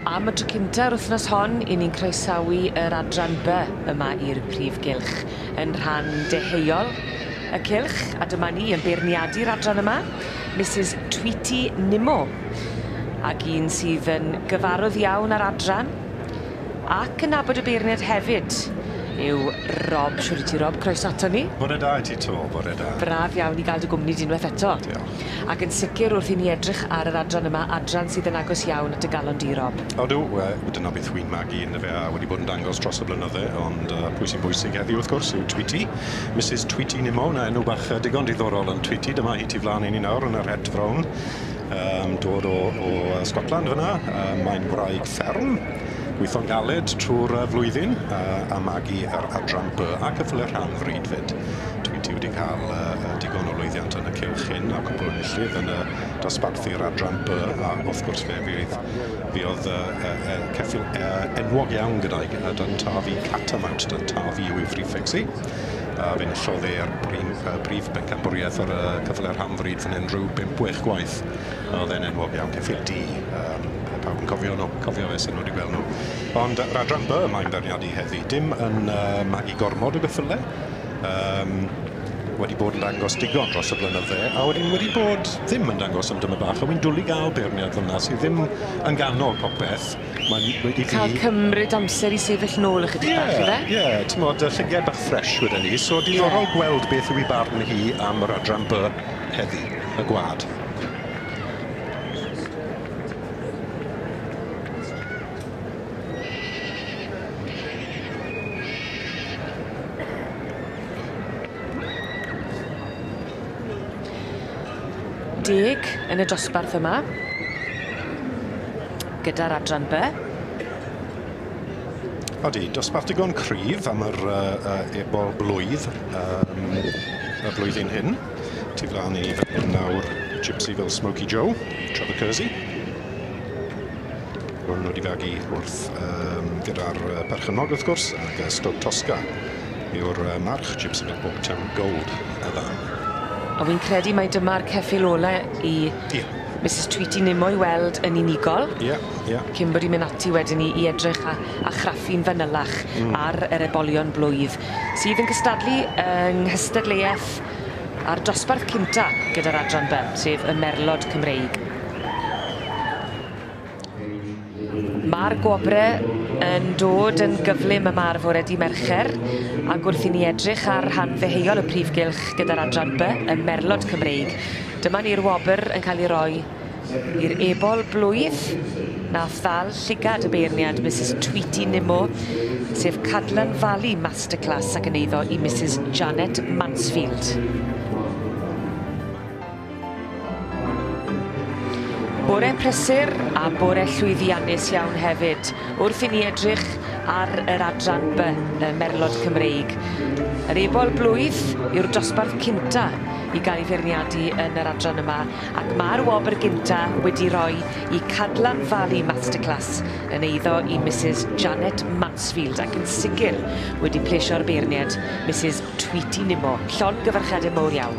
Am y tro cyntaf yr wythnos hon, i ni'n croesawu yr adran by yma i'r Prif Gylch yn rhan deheuol y cylch, a dyma ni yn beirniadu'r adran yma, Mrs Tweety Nimmo, ac un sydd yn gyfarwydd iawn ar adran, Ac yn nabod y beirniad hefyd yw Rob. Shwd wyt ti Rob? Croeso aton ni. Bore da i ti 'to, bore da. Braf iawn i ga'l dy gwmni di unwaith eto. Diolch. Ac yn sicr wrth i ni edrych ar yr adran yma, adran sydd yn agos iawn at dy galon di Rob. Odw, we- dyna beth wi'n magu ynddo fe a wedi bod yn dangos dros y blynydde ond yy pwy sy'n bwysig heddiw wrth gwrs yw Tweety, Misus Tweety Nimmo, 'na enw bach yy digon diddorol yn Tweety, dyma hi tu flan i ni nawr yn yr het frown. Yn dod o o yy Sgotland fyn 'na yy mae'n wraig fferm gwitho'n galed trw'r yy flwyddyn yy a magu yr adran by a ceffyle rhan fryd 'fyd. Dwi dwi wedi ca'l yy yy digon o lwyddiant yn y cylch hyn a cwpwl o enillydd yn y dosbarthu'r adran by a wrth gwrs fe fydd fe o'dd yy yy yy ceffyl yy enwog iawn gyda'i g- yy 'da 'da fi catamount 'da 'da fi yw ei frîffecs hi. a fe enillodd e ar brin- yy brif bencampwriaeth ar y cyfle rhan fryd fan 'yn rhyw bump wech gwaith a o'dd e'n enwog iawn ceffyl du yym yy pawb yn cofio nw cofio fe senod i gwel' nw. Ond yr adran by mae'n beirniadu heddi dim yn yy magu gormod o geffyle yym wedi bod yn dangos digon dros y blynydde a wedyn wedi bod ddim yn dangos am dymed bach a wi'n dwli ga'l beirniad fel 'na sy ddim yn ganol popeth Mae'n wedi fi... Ca'l cymryd amser i sefyll nôl ychydig bach yfe? Ie ie t'mod y llygaid bach ffresh weden ni so diddorol gweld beth yw 'i barn hi am yr adran By heddi. Y gwa'd. Deg yn y dosbarth yma. gyda'r adran By. Odi, dosbarth digon cryf am yr uh, uh, ebol blwydd um, y blwyddyn hyn. Tu flaen i fan hyn nawr Gypsy fel Smoky Joe, Trevor Kersey. Hwn wedi fagu wrth um, gyda'r uh, perchennog wrth gwrs, ac uh, Stoke Tosca yw'r uh, march Gypsy fel Bob Town Gold y fan. A wy'n credu mai dyma'r ceffil ole i... Ie. Yeah. Misus Tweety ddim o'i weld yn unigol. Ie, ie. Cyn bod 'i'n myn' ati wedyn i i edrych a a chraffu'n fanylach... Hmm. ...ar yr ebolion blwydd sydd yn cystadlu yng nghystadleueth a'r dosbarth cynta gyda'r adran By, sef y merlod Cymreig. Mae'r gwobrau yn dod yn gyflym yma ar fore di Mercher ac wrth i ni edrych ar rhan ddeheuol y prif gylch gyda'r adran by y merlod Cymreig, dyma ni'r wobr yn cael ei roi i'r ebol blwydd nath ddal llygad y beirniad Misus Tweety Nimmo sef Cadlan Valley Masterclass ac yn eiddo i Misus Janet Mansfield. Bore prysur a bore llwyddiannus iawn hefyd wrth i ni edrych ar yr adran by y merlod Cymreig. Yr ebol blwydd yw'r dosbarth cynta i gael ei feirniadu yn yr adran yma ac mae'r wobr gynta wedi rhoi i Cadlan Valley Masterclass yn eiddo i Misus Janet Mansfield ac yn sicr wedi plesio'r beirniad Misus Tweety Nimmo. Llongyfarchiadau mowr iawn.